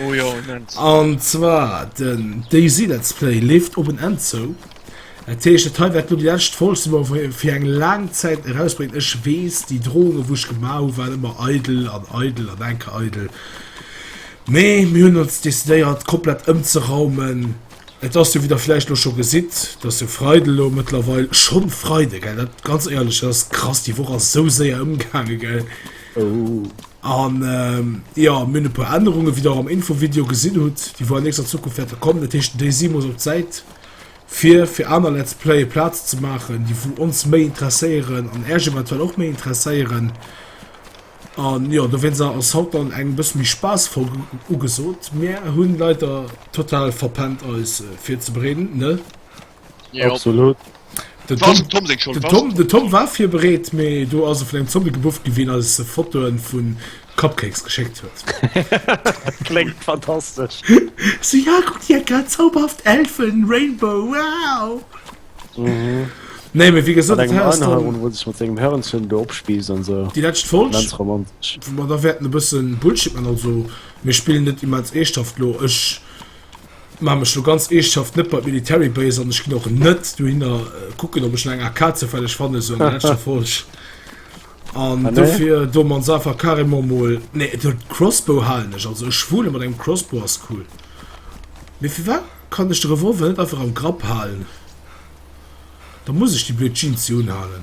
Oh jo, immens. An zwar den DayZ Let's Play leeft op en Enn zou. Dat heescht, dat hei wäert lo déi lescht Folg sinn, wou mer fir eng laang Zäit erausbréngen. Ech weess, déi Drohungen, wou ech gemaach hu waren ëmmer eidel an eidel an enker eidel. Mee mir hunn ons decidéiert komplett ëmzeraumen. Et ass jo, wéi der vläicht lo scho gesitt, et ass jo Freide lo mëttlerweil, schonn Freide, gell, dat ganz éierlech, dat ass krass, déi Woch ass esou séier ëmgaangen, gell. An jo, mir hunn e puer Ännerungen, wéi der am Infovideo gesinn hutt, déi wuel an nächster Zukunft wäerte kommen. Dat heescht, Daisy muss op d'Säit, fir fir aner Let's Playe Plaz ze maachen, déi wou ons méi interesséieren an äerch eventuell och méi interesséieren. An jo, dowéinst a ass haut dann eng bësse méi spaassvoll ugesot. Mir hunn leider total verpennt eis virzebereeden, ne Absolut. Den Tom, den Tom war virbereet, mee do ass e vun engem Zombie gebufft gi wien eis Fotoen vun Cupcakes geschéckt huet. Kléngt fantastesch. So, ja, kuck dir dat grad, zauberhaft Elfen, Rainbow, wow! Nee, mee wéi gesot, dat Haus do. Wou en sech mat sengem Hörnchen do opspiisst an esou. Déi lescht Folg. Immens romantesch. Wou mer da wäerten e bësse Bullshit man, also mir spillen net immens eeschthaft lo. Ech Maan mech lo ganz eeschtshaft net bei d'military base an ech gin och net dohinner kucken op ech no enger ak zoufälleg fannen sou an der letschter folg an ah, dofir do man se einfach carrément mol nee et huet crossbow haalen ech also ech schwule mat engem crossbow as cool mee fir wat kann ech de revolver net einfach am grapp haalen da muss ech déi blöd jeans jo unhaalen.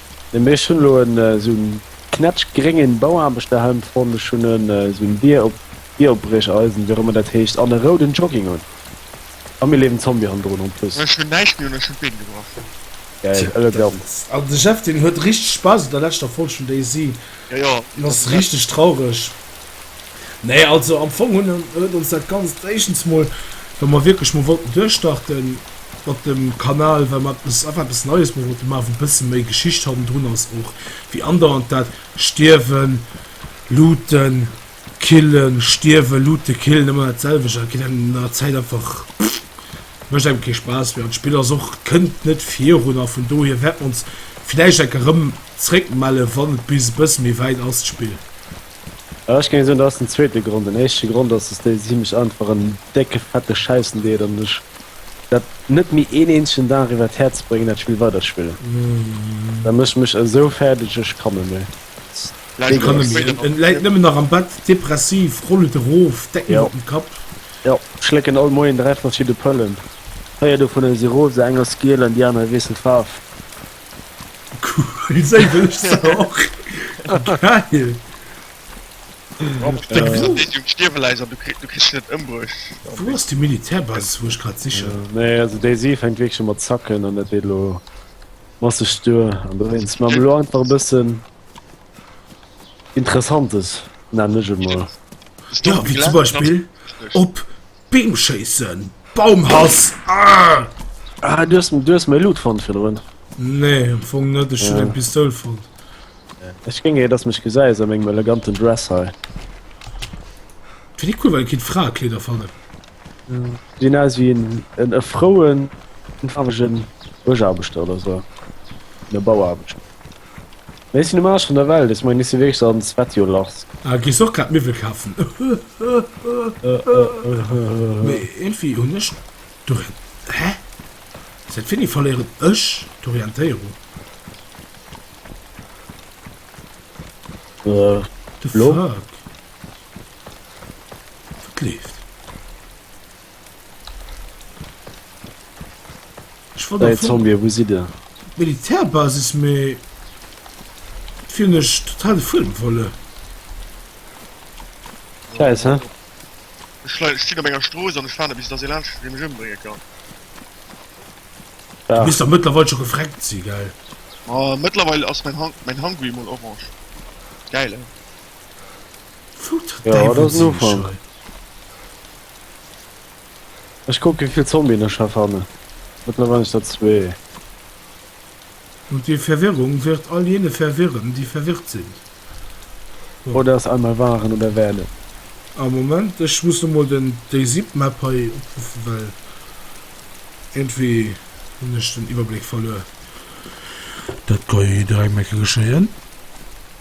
Hm ech hunn elo en esou en knätsch gréngen Bauaarbechterhemd fonnt. Ech hunn en esou en Bier op Bieropbrecheisen, wéi och ëmmer dat heescht, an e rouden Jogging un. A mir leeft en Zombie hannendrun en plus. Ech hunn näischt méi un, ech hunn d'Been gebrach. Geil, ëlle Gamm. An de Jeff deen huet richteg Spaass un der leschter Folg vun Daisy. Jo jo. En ass richteg traureg. Nee, also am Fong hunn, huet ons dat Ganzt éischtens mol, well mer wierklech mol wollten duerchstarte mat dem Kanal, well mer eppes, einfach eppes Neies mol wollte maachen, wou e bësse méi Geschicht hannendrun ass och wéi andauernd dat Stierwen, Looten, Killen, Stierwen, Looten, Killen, ëmmer dat selwecht. Dat geet engem no enger Zäit einfach, mécht engem kee Spaass méi an d'Spill ass och, kënnt net virun a vun dohier wäerte mer ons villäicht enker erëm zréckmellen, wann et bis e bësse méi wäit ass, d'Spill. Ech géing soen, dat ass den zweete Grond. Den éischte Grond ass, dass déi si mech einfach en décke fette Scheissen deet an ech dat net méi een eenzegen Dag iwwert d'Häerz bréngen, dat Spill weider spillen. Dat mécht mech esou fäerdeg, ech kann net méi. Ech kann net méi. En läit nëmmen nach am Bett, depressiv, rollt et erof, Decken iwwert den Kapp. Jo, ech schlécken all Moien dräi verschidde Pëllen. Véier dovunner si rosa, eng ass giel an déi aner ewéisst net d'Faarf. Cool, sou wëll ech se och. Geil! Rob, steng bis an deet Jong Stierweläiser, du kriss se net ëmbruecht. Wou ass déi Militärbasis, wou ech grad sichen? Nee, also déi si fänkt wierklech un mat zacken an dat deet elo masseg duer. An do wéinst maache mer elo einfach e bëssen Interessantes, nennen ech et mol. Jo, wéi zum Beispill op. Beem schéissen! Baumhass! Argh! Ah, du hast, du hast mei Loot fonnt virdrun. Nee, am Fong net, ech hun eng Pistoul fonnt. Ech géing eir dass mech gesäis a mengem eleganten Dress hei. Find déi cool, well et kéint Fraekleeder fannen. Sinn aus wéi en en e frouen, farwegen Bëschaarbechter oder sou. En Bauaarbechter. Ech sinn um Aarsch vun der Welt, ech mengen ech si wierklech an Svetjolars. Ah, gees och grad Miwwel kafen? Mee iergendwéi hunn ech d'Orient. Hä? Säit wéini verléieren ech d'Orientéierung? The fuck? Wat leeft? Ech wollt Ey, Zombie, wou sidd Der? Militärbasis, mee et wier nech total de Fuedem verluer. Scheiss, he? Ech lei, ech stinn op enger Strooss an ech waarde bis dass ee laanscht dee mech ëmbrénge kann. Du misst dach mëttlerweil scho gefreckt si, gell? Ma mëttlerweil ass mäin Hang, mäin Hangui mol orange. Gäil, he? Ech kuck wéivill Zombien ech hei fannen. Mëttlerweil si dat zwee. Und die Verwirrung wird all jene verwirren, die verwirrt sind. Oh, dat ass einmal waren oder werden. A Moment, ech muss emol den déi Zipmap hei opruffen, well iergendwéi hunn ech den Iwwerbléck verluer. Dat ka jo jidderengem eng Kéier geschéien.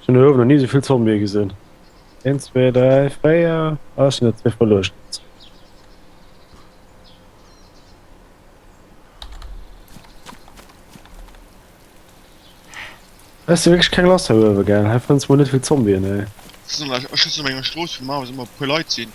Ech hun uewen no ni souvill Zombie gesin. Een zwee dräi véier ah ech hun der zwee verluecht. Hues de wierklech keng lass hei uewen? Gell hei fënns mol net vill Zombien hei. Ech sinn an enger Strooss wou normalerweis ëmmer e puer Leit sinn.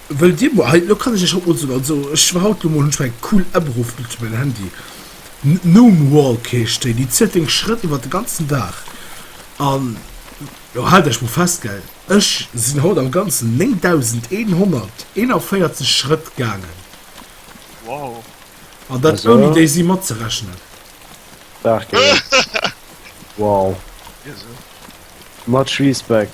Wëll dir mol, hei, lo kann ech iech haut mol soen, also ech war haut lo mol, hunn ech mol eng cool App erofgelueden fir mäin Handy, Gnomewalk heescht déi, déi zielt deng Schrëtt iwwert de ganzen Dag an lo haalt iech mol fest, gell, ech sinn haut am Ganzen 9141 Schrëtt gaangen. Wow. An dat ouni déi si matzerechnen. Dach geel. Wow. Much respect.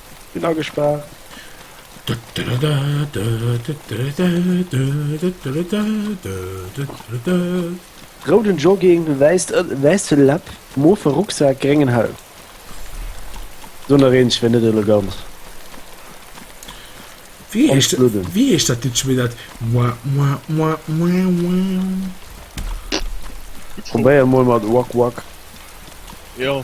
Sinn agespaart. Rouden Jogging, wäisst wäisse Läpp, mofe Rucksak, gréngen Helm. Sou nach eenz, fir net elegant am Schludden. Wéi heescht dat Lidd scho wieder? Probéier mol mat Wak Wak. Hä?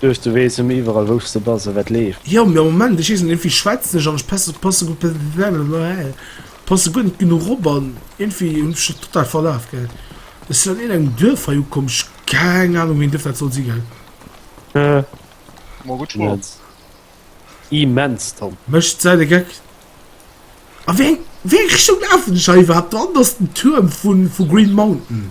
Duecht du wees emmer iwerall wousch se bas a wat leef. Jo mee am Moment ech wees net irgendwie schwetz nech an ech passe passe gudd passe guer net genuch op an irgendwie hun ech dat total verlaaf gehat ech sin an iergend engem Duerf hei ukomm ech keng Ahnung wéin Duerf dat soll si gell. Immens immens Tom. Mecht seit e Geck. A wéi eng wéi eng Richtung laafen ech hei iwwerhaapt dran? Ass den Tuerm vu Green Mountain?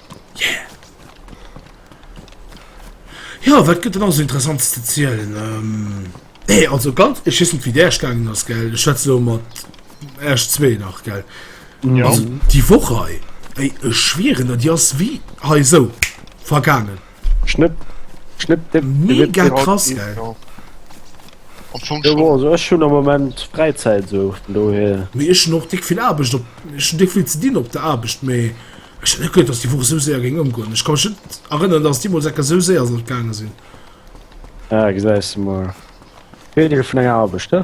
Yeah! Jo, wat gëtt et nach esou Interessantes ze zielen? Nee, also ganz, ech weess net, wéi d'Äercht gaangen ass, gell? Ech schwätze elo mat Äerch zwee nach, gell? Also déi Woch hei, ey, ech schwieren der, déi ass wéi hei esou vergaangen. Schnipp, schnipp, dipp, Mega krass, geil. Ech hun am moment Freizeit so dohe. Mee ech och dick vill Aarbecht op ech dick vill ze dinn op der Aarbecht méi ech net gëtt ass déi Woch sou séier géng ëmgoen. Ech kann mech net erënneren, datt déi mol Ecker sou séier sollt gaange sinn. Ja gesäis de mol. Wéi dech vun enger Aarbecht, he?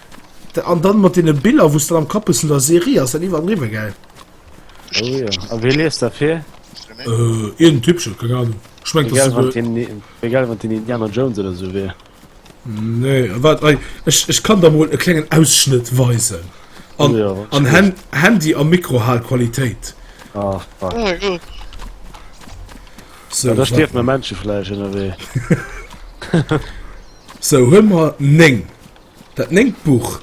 An dann mat den Biller wou's dann am Kapp bessen der Serie ass dann iwwer an riwwer gell. Oh jo, a wéi liest dat fir? Äh, iergend Typchen, keng Ahnung. Ech mengt dass se do. Egal wann den Indiana Jones oder sou wier. Nee, waart ei, ech ech kann der mol e klengen Ausschnëtt weisen. An an Hand Handy a Mikro Hal Qualitéit. Ach fuck. Oh mein Gott. Sou, da stierft mer Menschefleisch ënnerwee. Sou, huel mer 9. Dat néngt Buch.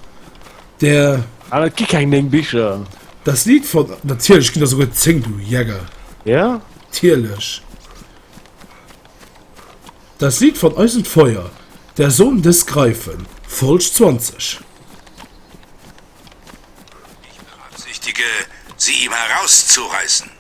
Der. Ah, et gi keng néng Bicher. Das Lied von. Natierlech ginn der souguer zéng, du Jäger. Ja? Natierlech. Das Lied von Eis und Feuer, Der Sohn des Greifen, Folg 20. Ich beabsichtige, sie ihm herauszureißen.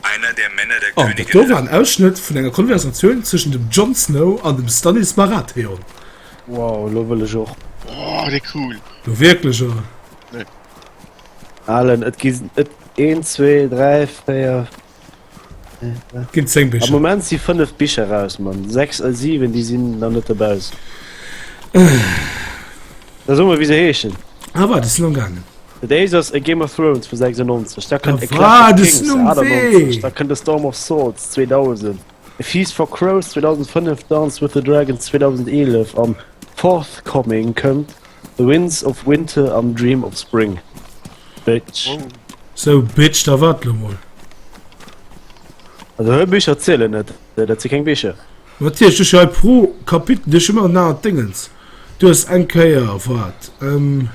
An dat do war en Ausschnëtt vun enger Konversatioun zwëschen dem Jon Snow an dem Stannis Baratheon. Wow, lo wëll ech och. Woah, dei cool! Jo wierklech oder? Nee. Alen, et gi et een, zwee, dräi, véier, Et ginn 10 Bicher. Am Moment si 5 Bicher raus, Mann. 6 a 7, déi sinn nach net dobaussen. Da so mol, wéi se heeschen. Ah, wat, déi sinn am gaangen. Days ass e Game of Thrones vu 96 da kënnt e Clash of Kings 98 da kënnt e Storm of Swords 2000 e Feast for Crows 2005 Dance with the Dragons 2011 an Forthcoming kënnt The Winds of Winter an Dream of Spring Bitch. Oh. So Bitch da wat lo mol. Also hei Bicher zielen net, dat si keng Bicher. Natierlech, du hues jo hei pro Kapitel, du hues jo ëmmer en anert Déngens. Du hues eng Kéier, waart, ehm,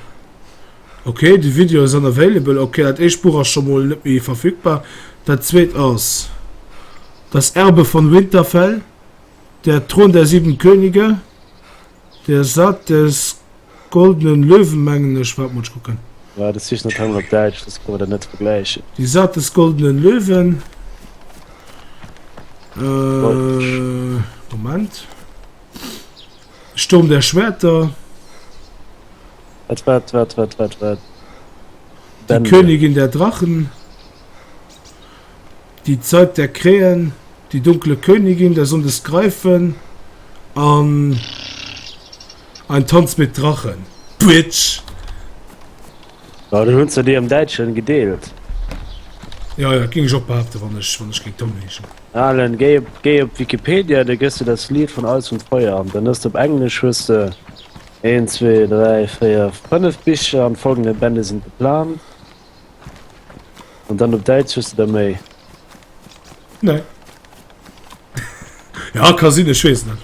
ok, de Video ass unavailable, ok, dat éischt Buch ass scho mol net méi verfügbar, dat zweet ass Das Erbe von Winterfell, Der Thron der sieben Könige, Der Saat des goldenen Löwen, mengen ech, waart mol, ech kucken. War de Sicht net hannert Däitsch, dës kann mer dat net vergläichen. Die Saat des goldenen Löwen, ehm, Moment. Sturm der Schwerter. Wat, wat, wat, wat, wat, wat? Die Königin der Drachen. Die Zeit der Krähen. Die dunkle Königin der Sonne des Greifen. An Ein Tanz mit Drachen. Bitch! Ja, du hunn se dir am Däitschen gedeelt. Ja, ja, dat géing ech och behaapten, wann ech, wann ech géing Tom heeschen. Alan, géi op géi op Wikipedia, da gëss de Das Lied von Eis und Feuer an dann hues de op Englesch hues de een, zwee, dräi, véier, fënnef Bicher an folgende Bände sind geplant an dann op Däitsch hues de der méi. Nee. Ja, ka sinn, ech weess net.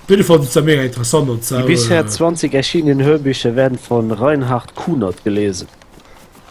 Op jidde Fall sinn se mega interessant an Die zwar, bisher äh, 20 erschienenen Hörbicher werden von Reinhard Kunert gelesen.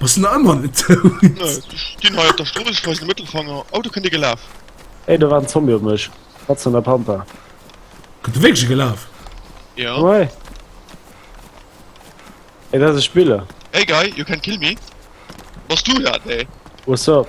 Bass na ëmmer net dout? Nö, ech stinn hei op der Strooss, ech weisen de Mëttelfanger. Oh, do kënnt ee gelaf. Hey, do war en Zombie op mech. Wat zu enger Pampa. Kënnt e wierklech gelaf? Ja. Hey, dat ass e Spiller. Hey guy, you can't kill me. Bass du dat, hey? What's up?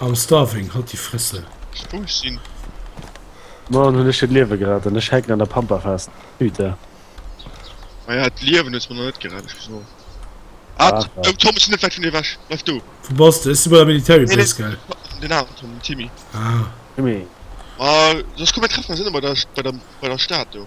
I'm starving, halt déi Fresse! Wou ech sinn? Moien hunn ech hiert Liewe gerett an ech hänken an der Pampa fest. Putain. Naja, d'Liewen hues mer nach net gerett, ech muss soen. Ah, Ach, ach. oh, Tom, ech sinn net wäit vun dir ewech. Bleif do. Wou bass de? Ech si bei der Military Nee, Base, gell? nee, den aneren Tom, den Timmy. Ah. Timmy. Ah, soss komm, mir treffen eis ënne bei der, bei der, bei der Stad do.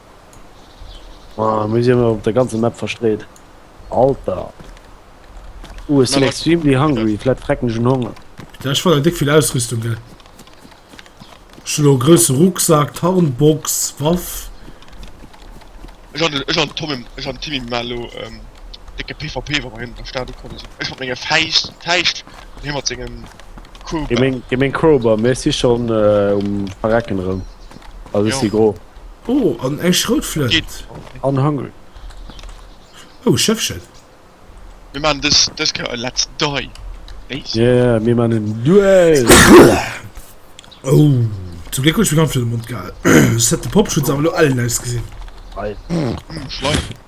Ah, mir sinn op der ganze Map verstreet. Alter. Uh, es sinn extremely hungry, flett frecken schon Honger. Ja, ich wollte dick viel Ausrüstung, gell. Schlo, größe Rucksack, Tarnbox, Waff. Ich hatte, ich hatte Tommy, ich hatte Timmy Malo, ähm, dicke PvP, wo wir hin, da starten konnten. Ich hatte meine Feist, Feist, hier mit seinem Crowbar. Gemein, gemein Crowbar, merci schon, äh, um Verrecken rum. Also ech si gro. Oh, an ech rout vlëcht. An hungry. Oh, Schëffchen. Mir man des des Kéier e Let's Die. Base. Yeah, mir man en Duell. Oh, zum Gléck hu ech mir d'Hand fir de Mond gehal. Ech hätt de Popschutz awer elo ellen ausgesinn. Ei. Schleim.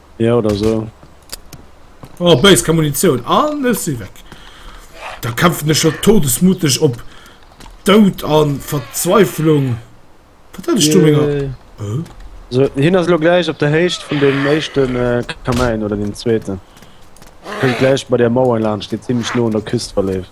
Ja oder so. Oh, béis ka Munitioun an ech si weg. Da kämpfen ech scho todesmuteg op Dout an Verzweiflung. Wat hat ech do ménger. Äh. So, hin ass lo gläich op der Héicht vun dem éischten äh, Kamäin oder dem zweeten. Kënnt gläich bei der Mauer laanscht, déi zimmlech no un der Küst verleeft.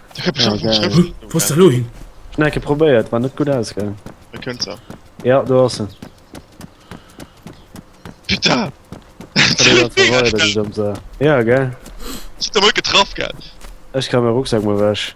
Schnecke probéiert war net gutt aus gell Ja do ass se Ja gell Ech kann mé Rucksack mol wech.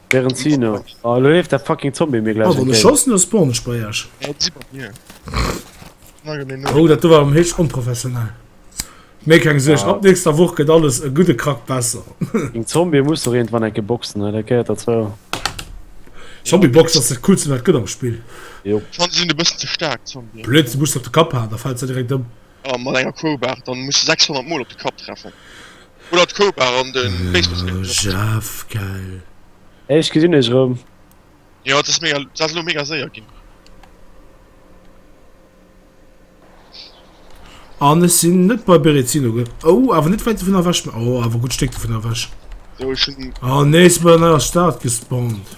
Während sie no. Oh, lo lebt der fucking Zombie mir gleich. Oh, du schoss nur Spawn Sprayer. Oh, das war am Hirsch unprofessionell. Mir kein Gesicht. Ab nächster Woche geht alles ein gute Krack besser. Ein Zombie muss doch irgendwann ein Geboxen, ne? Der gehört dazu. Zombie Box, das ist das coolste, was geht am Spiel. Jo. Schon sind ein bisschen zu stark, Zombie. Blöd, du musst auf den Kopf haben, da fällt sie direkt um. A mat enger Crowbar dann muss de 600 mol op de Kapp treffen oder d'Crowbar an den Baseballstéck benutzen. Elo schaff gell. Ech gesinn iech erëm. Jo et ass mega, s ass elo mega séier ginn. An ech sinn net bei Berezino gell? Oh awer net wäit dovun ewech, mee oh awer gutt Stéck dovun ewech. So ech hunn. Oh nee, ech sinn bei der neier Stad gespawnt.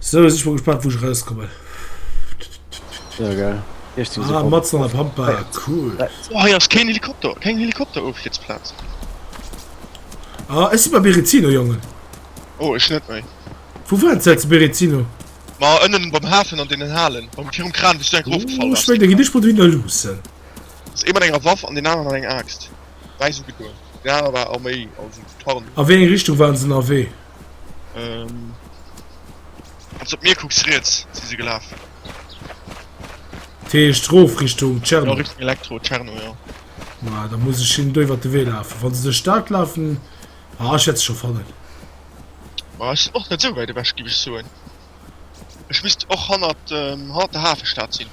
So ech war gespannt wo rauskommen Helikopter kein Helikopter of jetzt Platz ah, es war Berizino jungen oh, ich net mei wo waren ze Berizino Ma ënnen beim Hafen an den Halen beim Fi Kran bis dein Grupp gefallen oh, mein, dich mod wieder los Das immer enger Waff an den anderen eng Axt Wei so gedur Ja war a méi A wéi eng Richtung waren se a wee Ehm. Wanns de op mir kucks, riets si se gelaf. Dat heescht rof Richtung Tscherno? Ja, Richtung Elektro, Tscherno, jo. Ma da muss ech hinnen do iwwert de Wee lafen. Wann se duerch d'Stad lafen. Ah, ech wäert se scho fannen. Ma ech sinn och net esou wäit ewech, géif ech soen. Ech misst och hannert, hannert der Hafestad sinn.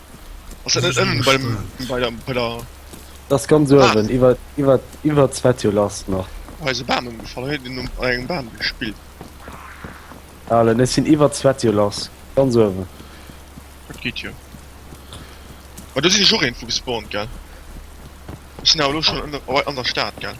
Ass dat net ënnen bei dem, bei der, bei der... Das ganz uewen, ah. iwwer, iwwer, iwwer d'Svetio lass nach. Hei se Bam ëmgefall, hei den um engem Bam gespillt. Allen, ech sinn iwwer d'Svetio lass, ganz uewen. Dat geet jo. Ma du sinn ech och eenfu gespawnt, gell? Ech sinn awer lo schon an der, an der Stad, gell?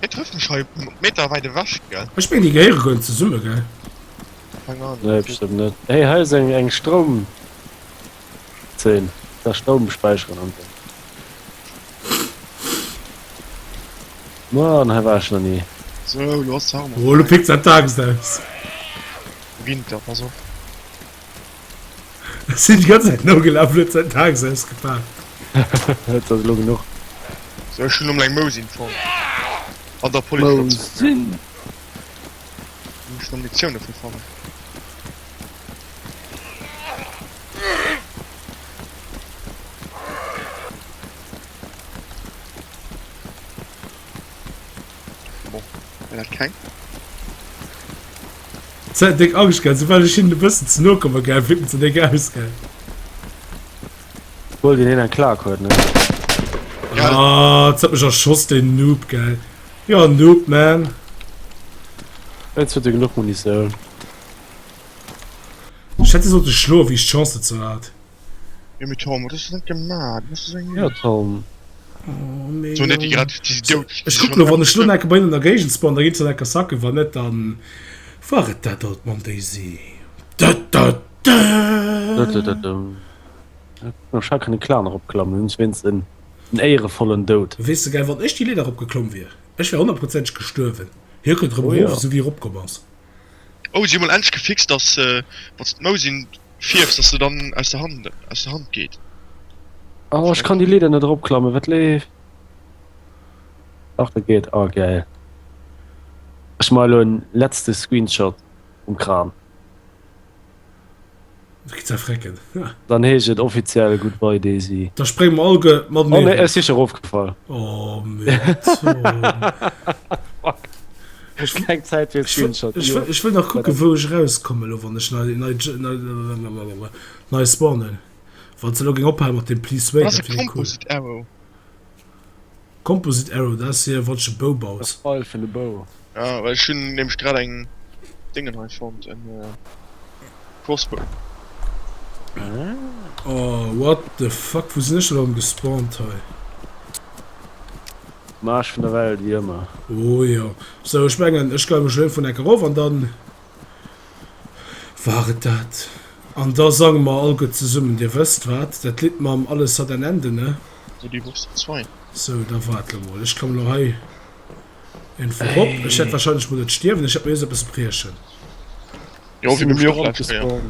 Hien trëfft mech hei um Meter weit ewech, gell? Ech meng déi gehéiere goen zesumme, gell? Keng Ahnung. Nee, bestëmmt net. Hey, hei ass eng eng Stroum Zeen. Ka Stroum späicheren an esou. Mann, hei war ech nach ni. Sou, lo ass d'Farm och Oh, lo fäi. pickt se am Tageslicht. Winter, pass op. Ech sinn d'ganz Zäit nogelaf, huet säin Tags ausgepaakt. Et ass elo genuch. Sou, ech hunn emol eng Mousin fonnt an der Polisstation. Mousin? Do muss ech nach Munitioun dofir fannen. Zäit déck ageschgelt, soubal ech hinnen e bëssen ze no komme gell, fir ze déck aus gell. Wuel deen een eng Klack huet ne. Ah, et huet mech erschoss den Noob gell. Jo Noob man. Ets huet e genuch Munitioun. Ech hätt e sollte schloen wéi ech d'Chance dozou hat. Jo mee Tom, wat hues de net gemaat? Du bass jo sou eng Null. Jo Tom. Oh mee jo. Ech kucken elo wann ech elo nekke bei hinnen an der Géigend spawn, da geet se nekke sacke, wann net dann war et dat alt mam Daisy. Dëdëdëdëm. Ech hat kënne Clan eropklammen, hunn wéinst en éierevollen Doud. Weess de, gell, wann ech déi Leeder eropgeklomm wier, ech wär honnertprozenteg gestuerwen. Hie kënnt erëm erof, esou wéi e eropkomm ass. Oh, si mol endlech gefixt, dass wanns de d'Mou sin fierfs, dass se dann aus der Hand aus der Hand geet. Oh, ech kann déi Leeder net eropklammen, wat leeft? Ach, dat geet. Oh, gäil. Ech maache lo en letzte Screenshot vum Kram. Dann heescht et offiziell Goodbye Daisy. Da sprénge mer alleguer mat erof. Oh nee, ech si scho erofgefall. Oh fuck. Ech hunn keng Zäit fir e Screenshot. Ech wëll nach kucken, wou ech erauskommen elo, wann ech nei spawnen. Wann se elo géing ophale mat deem Please wait, dat wier cool. Composite Arrow, dat ass hir watch e Bou baut. Fall vun de Bou. Ah well ech hunn nämlech grad eng Déngen hei fonnt, en Crossbow. Ah. Oh what the fuck, wou sinn ech erëm gespawnt hei? Um Aarsch vun der Welt, wéi ëmmer. Oh jo. Sou, ech mengen ech gehe mech lo vun Eck erof an dann. War et dat? An da sange mer all gutt zesummen, Dir wësst wat, dat Lidd mam Alles hat ein Ende, ne? Sou, déi Woch si zwei. Sou, da waart lo mol. Ech komme lo hei iergendwou rop. Ech hätt wahrscheinlech mol dat Stierwen. Ech hätt mir just eppes briechen. Jo, wéi bei mir och lescht Kéier.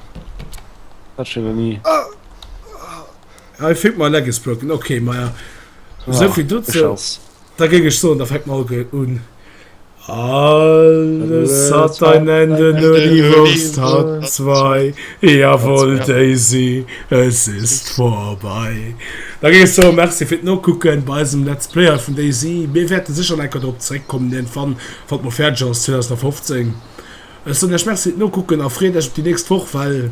Dat schéngt en i. I think my leg is broken. Okay, maja, sou vill dozou. Da géing ech soen, da fänkt mer all gëll un. Alles hat ein Ende, nur die Wurst hat zwei. Jawohl, Daisy, es ist vorbei. Da géing ech soen, Merci fir d'Nokucken bei eisem Let's Play hei vun Daisy. Mir wäerte sécher nach enker drop zeréckkommen iergendwann, wann d'Mod fäerdeg ass, 2015. Ech soen iech Merci fir d'Nokucken a freet iech op déi nächst Woch, well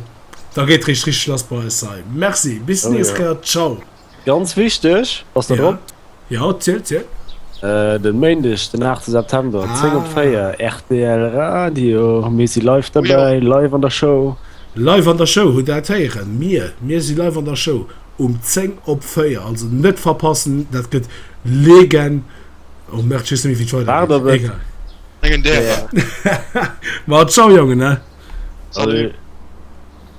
da geet et eréischt richteg lass bei eis hei. Merci, bis d'nächst Kéier, ciao. Ganz wichteg, bass der drop? Jo, zielt, zielt. Den Méindeg den 8 September 10 op 4 rtl Radio mir si live dobäi live an der Show. Live an der Show hutt dat héieren mir. Mir si live an der Show um 10 op 4 also net verpassen dat gëtt leegen oh merde ech weess net méi wéi d'Schwei war der wéi egal mengen därer ma ciao Jongen ne salut.